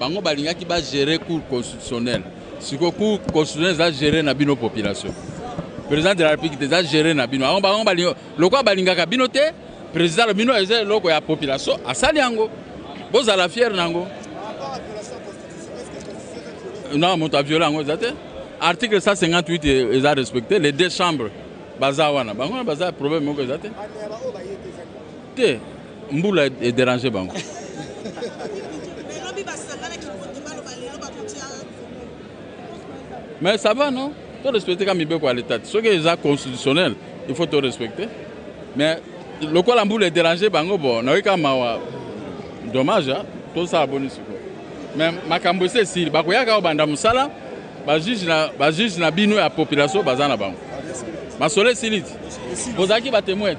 Bango balingaki ba gérer cour constitutionnelle. Siko cour constitutionnelle eza gérer na bino population. Président de la République eza gérer na bino. Bango bango balinga lokola balingaka bino te. Président bino eza eloko ya population asali yango. Bozala fier nango. Non, moto a viola yango eza te. Article 158 eza respecté les deux chambres baza wana. Bango baza problème moko eza te. Te. Mbula e deranger bango. Mais ça va non? To respecter ka mibeko ya l'etat. Soki eza constitutionnel, il faut to respecter. Mais lokola mbula e deranger bango bon, nayoki ka mawa. Dommage, hein? To sala boni siko. Mais makambo ese esili, bakoyaka obanda mosala, ba juge na ba juge na bino ya population baza na bango. Masolo esili ti? Bozalaki ba temoins?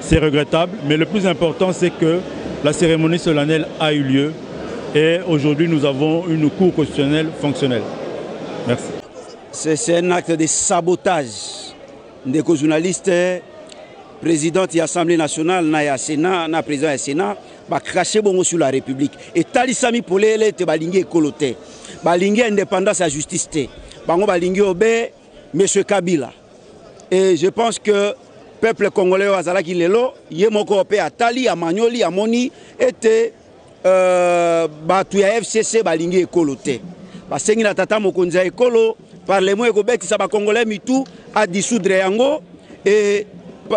C'est regrettable, mais le plus important c'est que la cérémonie solennelle a eu lieu et aujourd'hui nous avons une cour constitutionnelle fonctionnelle. Merci. C'est un acte de sabotage. Ndeko journaliste, présidente de l'Assemblée nationale, na ya Sénat, na président du Sénat, ba craché bongo sur la République. Et talisami polele te balingi ekolo te. Balingi indépendance à justice te. Bango balingi obe monsieur Kabila. Et je pense que peuple congolais oyo azalaki lelo ye moko mpe atali amanyoli amoni ete euh, bato ya fcc balingi ekolo te basengi na tata mokonzi ya ekolo parlement ekobetisa bakongolais mitu adisoudre yango e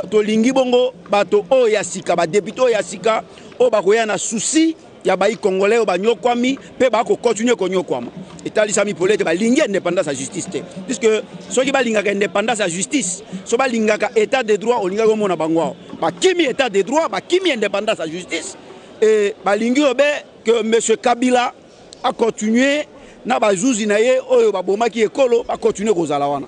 tolingi bongo bato oyo ya sika badepute oyo ya sika oyo bakoya na susi ya bayi congolais oyo banyokwami mpe bako continuer konyokwama etalisami pole ete balingi independance ya justice te puisque soki balingaka independance ya justice so balingaka état de droit olingaki omona bango awa bakimi état de droit bakimi independance ya justice e balingi obe que monsieur kabila acontinue na bazuzi na ye oyo babomaki ekolo bacontinue kozala wana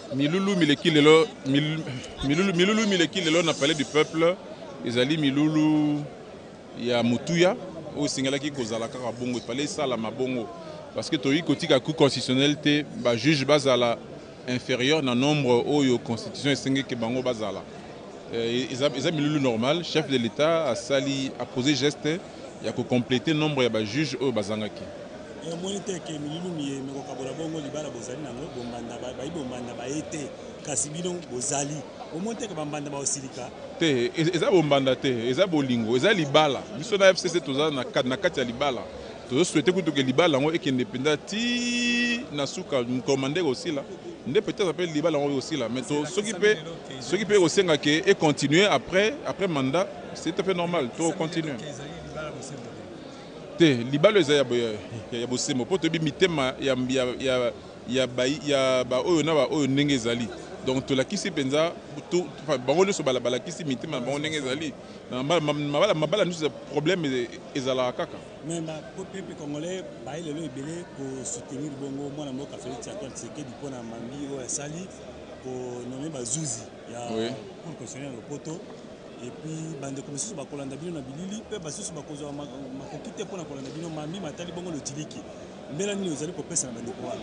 Milulu mileki lelo milulu, milulu mileki lelo na Palais du Peuple ezali milulu ya mutuya oyo esengelaki kozala kaka bongo, epale esalama bongo parce que toyei kotika Cour constitutionnelle te ba juge bazala inférieur na nombre oyo constitution esengi ke bango bazala. Euh, eza, eza milulu normal. Chef de l'État asali apose geste ya ko completer nombre ya ba juges oyo bazangaki. Omoni te ke mililu miye mikokabola bongo libala bozali na yango? Bombanda bayi bombanda baye te kasi bino bozali. Omoni te ke ba mbanda bakosilika? Te, eza bombanda te, eza bolingo, eza libala. Biso na fcc toza na kati ya libala. Tozo souhaiter kutu ke libala yango ekende penza ti na suka, mokolo mandat ekosila nde peut etre pe libala yango ekosila mais soki pe soki pe ekosenga ke e continuer après après mandat. C'est tout à fait normal. To continue. Te, libalo eza ya ya bosembo po toyebi mitema ya ya ya ya ba ya ba oyo na ba oyo ndenge ezali. Donc tolakisi mpenza bango nyonso balakisi mitema na bango ndenge ezali mabala mabala nyonso problème e, ezalaka kaka mais bapepe congolais baye lelo ebele kosoutenir bongo mwana mboka félix antoine tshisekedi mpo na mambi oyo asali konome bazuzi ya cour constitutionnel ya lopoto Et puis bandeko mosusu bakolanda bino na bilili mpe basusu bakozwa makoki te mpo na kolanda bino mambi matali bongo lotiliki. Mbela nini ozali kopesa na bandeko wana?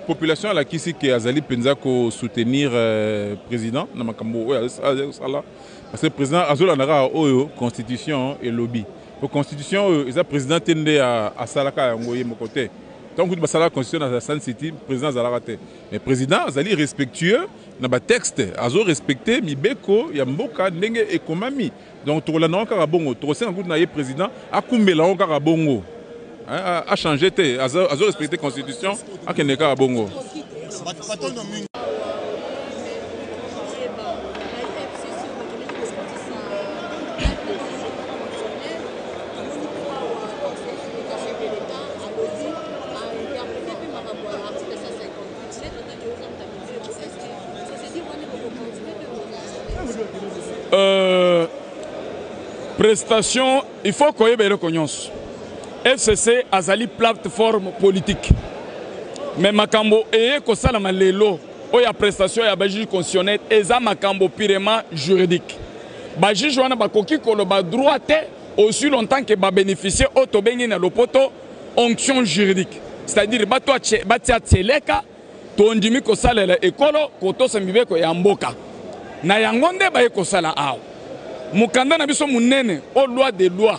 Population alakisi ke azali mpenza ko soutenir euh, president na makambo oyo azali kosala parce que president azolanda kaka oyo constitution elobi po constitution oyo eza president te nde asalaka yango ye moko te ntango kutu basalaka constitution na sun city president azalaka te mais president azali respectueux na ba texte azo respecte mibeko ya mboka ndenge ekomami donc tokolanda yango kaka bongo tokosenga kutu na ye president akumbela yango kaka bongo a change te azo respecte constitution akende kaka bongo Euh, prestation il faut koyeba eloko nyonso fcc azali plateforme politique me makambo eye kosalama lelo oyo ya prestation ya bajuge constitutionnel eza makambo purement juridique bajuge wana bakoki koloba droit te aussi longtemps ke babénéficie oyo tobengi na lopoto onction juridique c'est-à-dire bato batia tseleka tondimi kosalela ekolo kotosa mibeko ya mboka na yango nde baye kosala awa mokanda na biso monene o loi de loi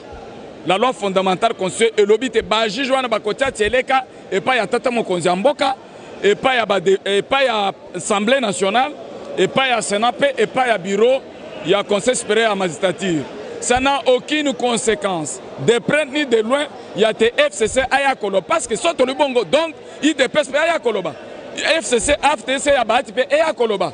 la loi fondamentale constitution elobi te bajuge wana bakotia tseleka epai ya tata mokonzi ya mboka epai ya, epai ya Assemblée nationale, epai ya Senat mpe epai ya bureau ya Conseil supérieur ya magistrature. Ça n'a aucune conséquence, de près ni de loin, ya te FCC aya koloba, parce que soit tolibongo, donc IDPS mpe aya koloba, FCC, AFTC ya Bahati mpe eya koloba.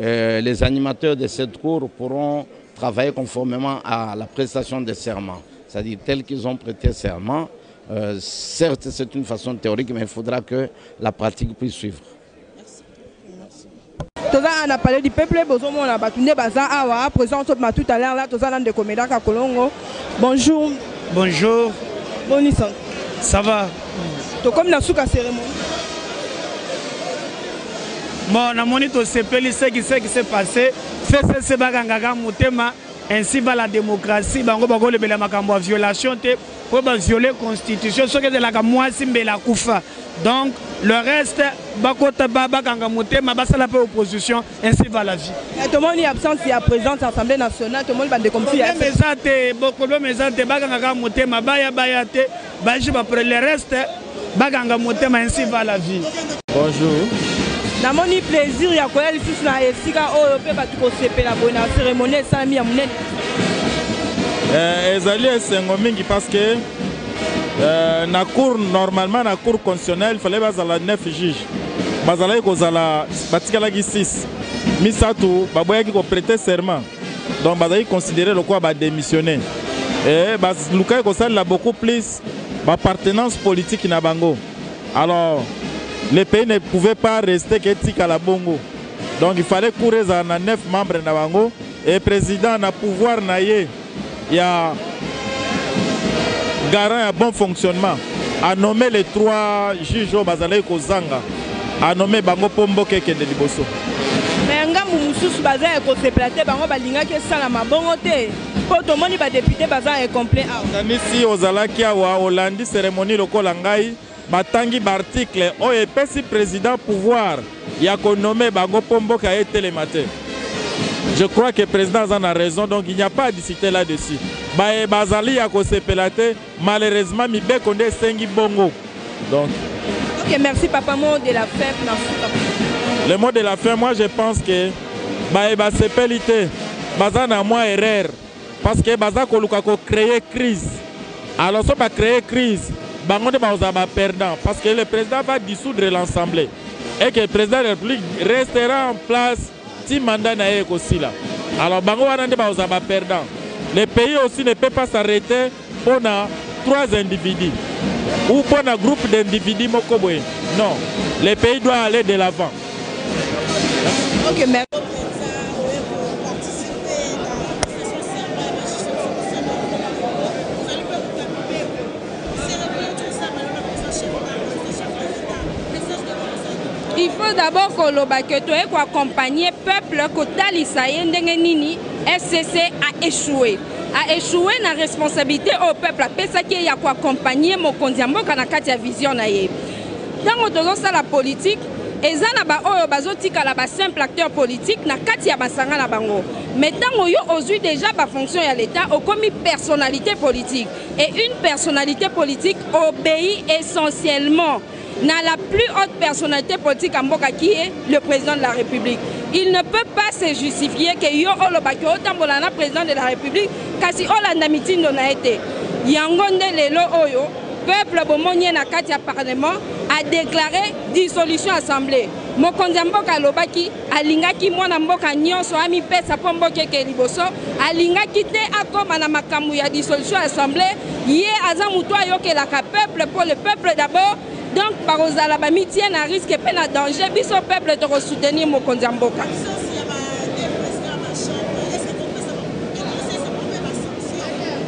Euh, les animateurs de cette cour pourront travailler conformément à la prestation de serment, c'est-à-dire tels qu'ils ont prêté serment. Euh, certes, c'est une façon théorique, mais il faudra que la pratique puisse suivre. toza awa na palais du peuple bozomona bato nde baza awa présent tobima tout à l'heure la toza na ndeko melaka kolongo Bonjour. Bonjour. Boni santé. Ça va. Tokomi na suka cérémonie. Bon, namoni tosepeli ce qui ce qui s'est passé. FCC bakangaka motema ainsi va la démocratie bango bakolobela makambo ya violation te mpo baviole constitution soki ezelaka mwasi mbela kufa donc le reste bakota bakanga motema basala mpe opposition Ainsi va la vie. Mais tomoni absence ya présidence ya Assemblée nationale, tomoni ba ndeko misusu ya Problème eza te, bo problème eza te, bakanga kaka motema, baya baya te, ba juge ba le reste bakanga motema ainsi va la vie. Bonjour. Namoni plaisir ya koya lisusu na esika oyo mpe bato kosepela boye na cérémonie esalami ya monene. Eh, ezali esengo mingi parce que eh, na cour normalement na cour constitutionnelle fallait bazala 9 juge bazalaki kozala batikalaki 6 misato baboyaki koprete serment donc bazalaki considere lokola badémissionne e balukaki kosalela beaucoup plus bapartenance politique na bango alors le pays ne pouvait pas rester ke etikala bongo donc il fallait cour ezala na 9 membre na bango e président na pouvoir na ye ya garant ya bon fonctionnement a nomme les trois juges oyo bazalaki kozanga a nomme bango mpo mboka ekende liboso me ngambu mosusu baza ya kosepela te bango balingaki esalama bongo te mpo tomoni badepute baza ya complet awa kanisi ozalaki awa olandi seremoni lokola ngai batangi ba articles oyo epesi president pouvoir ya ko nommer bango mpo mboka etelema te. Je crois que president aza na raison donc il n'y a pas à discuter là dessus. Baye bazali ya kosepela te malheureusement mibeko nde esengi bongo donc. Ok, merci papa. Mot de la fin, Le mot de la fin, moi je pense que baye basepeli te baza na mwa erreur Parce que baza koluka ko creer crise alors soki ba creer crise bango nde bakozala ba perdants parce que le president va dissoudre l'ensemble et que president de la republique restera en place ti mandat na ye ekosila alors bango wana nde bakozala ba perdants le pays aussi ne peut pas s'arreter Mpo na trois individus ou mpo na groupe d'individus moko boye non le pays doit aller de l'avant okay, mais... il faut d'abord koloba ke toye koaccompagne peuple kotalisa ye ndenge nini scc a échoué a echoue na responsabilite oyo peuple apesaki ye ya ko accompagner mokonzi ya mboka na kati ya vision na ye ntango tozosala politike eza na baoyo bazotikala ba simple acteur politique na kati ya masanga na bango mais ntango yo ozwi déjà bafonction ya leta okomi personnalité politique et une personnalité politique obéi essentiellement na la plus haute personnalité politique ya mboka qui est le président de la république il ne peut pas se justifier ke yo olobaki otambola na président de la république kasi olanda mitindo na ye te yango nde lelo oyo peuple bomoni ye na kati ya parlement adeklare dissolution assemblée mokonzi ya mboka alobaki Alingaki mwana mboka nionso amipesa mpo mboka ekee liboso. Alingaki te akoma na makambo ya dissolution ya assemblee. Ye aza moto ayokelaka peuple mpo le peuple d'abord. Donc bakozala bamitie na risque mpe na danger. Biso peuple toko soutenir mokonzi ya mboka.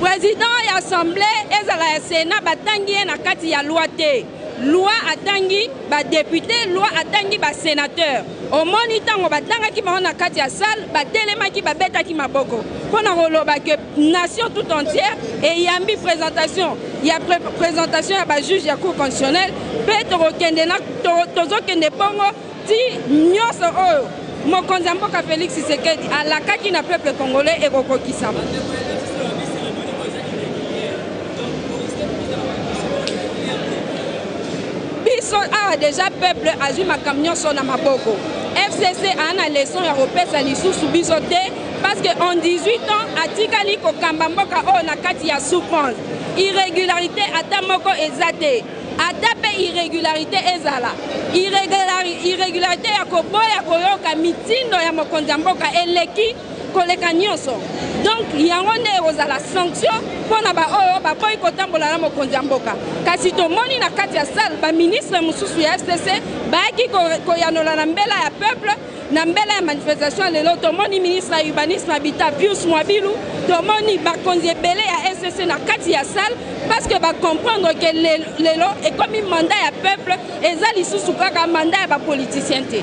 President ya assemblee ezala ya senat batangi ye na kati ya loi te. Loi atangi ba deputes, loi atangi ba senateurs. Omoni tango batangaki bango na kati ya salle, batelemaki babetaki maboko pona koloba que nation tout entière eyambi presentation ya presentation ya ba juges ya cour constitutionnelle pe tokokende na tozokende bongo Ti nyoso oyo mokonzi ya mboka Felix Tshisekedi alakaki na peuple congolais ekokokisama. Biso awa deja peuple azwi makambo nyoso na maboko. FCC a na leçon ya kopesa lisusu biso te parce que en 18 ans atikali kokamba mboka oyo na kati ya souffrance. Irregularité ata moko eza te. ata mpe irregularite ezala irregularite ya koboya koyoka mitindo ya mokonzi ya mboka eleki koleka nyonso donc yango nde ekozala sanction mpo na baoyo baboyi kotambola na mokonzi ya mboka kasi tomoni na kati ya salle baministre mosusu ya fcc bayaki koyanola na mbela ya peuple na mbela ya manifestation ya lelo tomoni ministre ya urbanisme habitat pius mwabilu tomoni bakonzi ebele ya ecc na kati ya salle parce que bacomprendre ke lelo ekomi mandat ya peuple eza lisusu kaka mandat ya bapoliticien te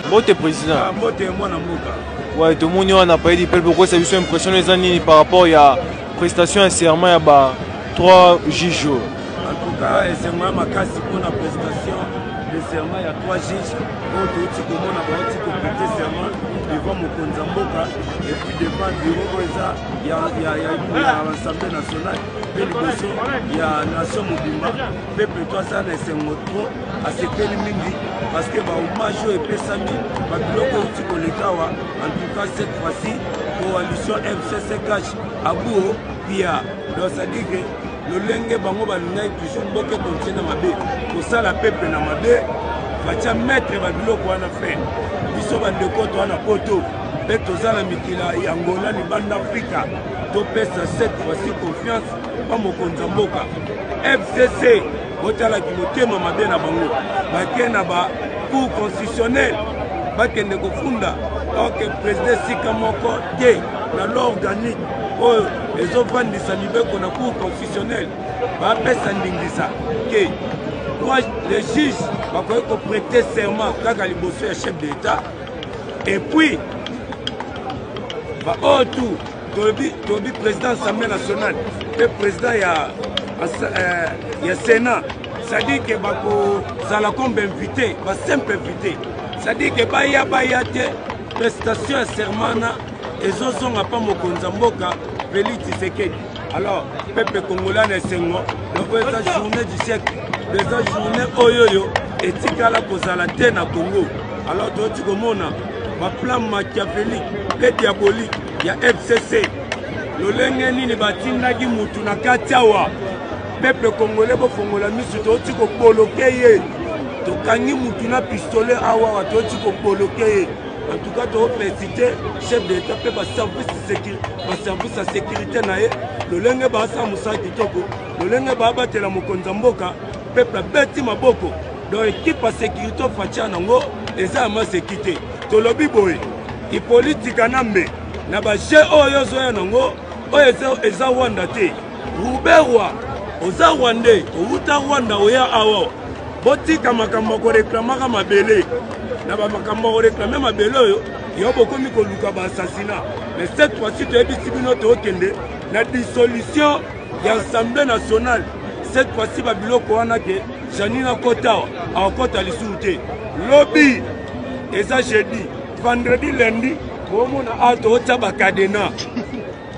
mbote président ah, mbote mwana mboka ouais tomoni wana paye du peuple okosa biso impression eza nini par rapport ya prestation ya serment ya ba 3 juge en tout cas esengo ya makasi mpona prestation de serment ya 3 juge oyo touti komona bauti koprete serment devant mokonzi ya mboka epuis devant biro oyo eza ya assemblée nationale mpe liboso ya nation mobimba peple to aza na esengo tro asepeli mingi parce que bahommage oyo epesami babiloko euti kolekawa en tout cas cette fois-ci coalition mcccash abuo pia donc ça dit que lolenge bango balingaki toujours boke kontie na mabe kosala peple na mabe batya maître babiloko wana fin biso bandeko toa na poto mpe toza na mikila ya angola libanda afrika topesa cette fois-ci confiance mpa mokonzi ya mboka fcc botalaki motema mabe na bango bake na ba cour constitutionnel bakende kofunda orke président esika moko te na loi organique oyo ezofandisa mibeko na cour constitutionnelle bapesa ndingisa ke le juge bakoki koprete serment kaka liboso ya chef de l'etat epuis baoyo oh, tu tolobi tolobi président assemblée nationale mpe président ya, euh, ya sénat c'est-à-dire ke bakozala comme bainvité basimple invité c'est-à-dire ke baya baya te prestation ya sermana ezozonga mpa mokonzi ya mboka feli tisekedi alors peuple congolais na esengo loko eza journée du siècle eza journée oyo oyo etikala kozala te na congo alors toyoti komona baplan machiavelique mpe diabolique ya fcc lolenge nini batindaki motu na kati awa peuple congolais bofongola miso touti koboloke ye tokangi mutu na pistolet awawa touti koboloke ye en tout cas toopesite chef de l'état mpe baservice ya sécurité na ye lolenge baasala mosala kitoko lolenge baabatela mokonzi ya mboka peuple abeti maboko donc ekipe ya sécurité ofatia nango eza ya maseki te tolobi boye ipolitika na mbe na bajeu oyo ozoya nango oyo eza rwanda te Ruberwa, oza rwandais, owuta Rwanda oya awa. Botika makambo ya koreklamaka mabele na bamakambo ya koreklame mabele oyo yo bokomi koluka baassasina mais cette fois-ci toyebisi bino tookende na dissolution ya assemblée nationale cette fois-ci babiloko wana ke janine akota awa akokota lisusu te lobi eza jeudi vendredi lundi boomona awa tootya bakadena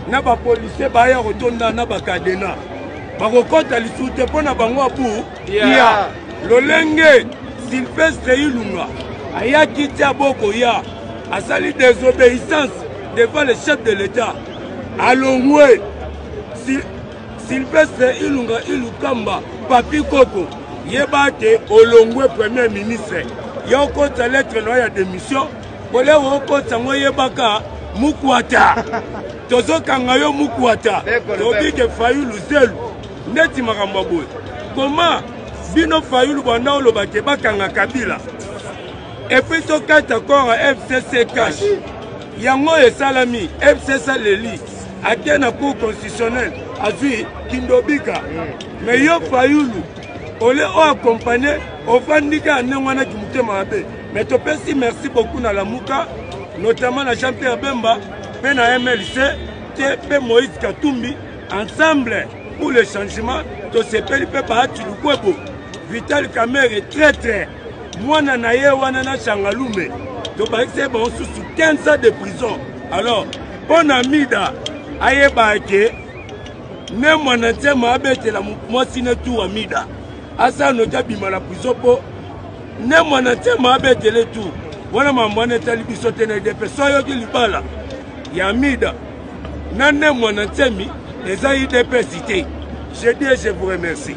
na bapolisie baya kotonda na bakadena bakokɔta lisusu te mpo na bango abu ya lolenge silvestre ilunga ayaki ti abokoya asali désobéissance devant le chef de l'état alongwe si, silvestre ilunga ilukamba papi koko yeba te olongwe premier ministre ya okota lettre na yo ya démission Bolewa okotisa ngo yebaka mukwata tozokanga yo mukwata lobi ke fayulu zelu ndeti makambo boye koma bino fayulu banda oloba ke bakanga kabila epui tokata kora fcc cash yango oyo esalami fcc leli ake na cour constitutionnel azwi kindobika me yo fayulu ole oakompanye ofandika ya ndenge wana kimotema mabe Mais topesi merci beaucoup na Lamuka, notamment na Jean-Pierre Bemba, pe na MLC, te pe Moïse Katumbi, ensemble pour le changement, tosepeli pe Bahati Lukwebo, Vital Kamerhe, très très, mwana na ye wana na Changalume, tobakisi ye bango susu 15 ans de prison. Alors, mpo na Mida ayeba ke ne mwana nsema abetela mwasi ne tuwa Mida asala noki abima na prison mpo ne mwana ntema abetele tu wana mambo wana etali biso te na edepe so ayoki libala ya mida na ne mwana ntemi eza idps te je dis et je vous remercie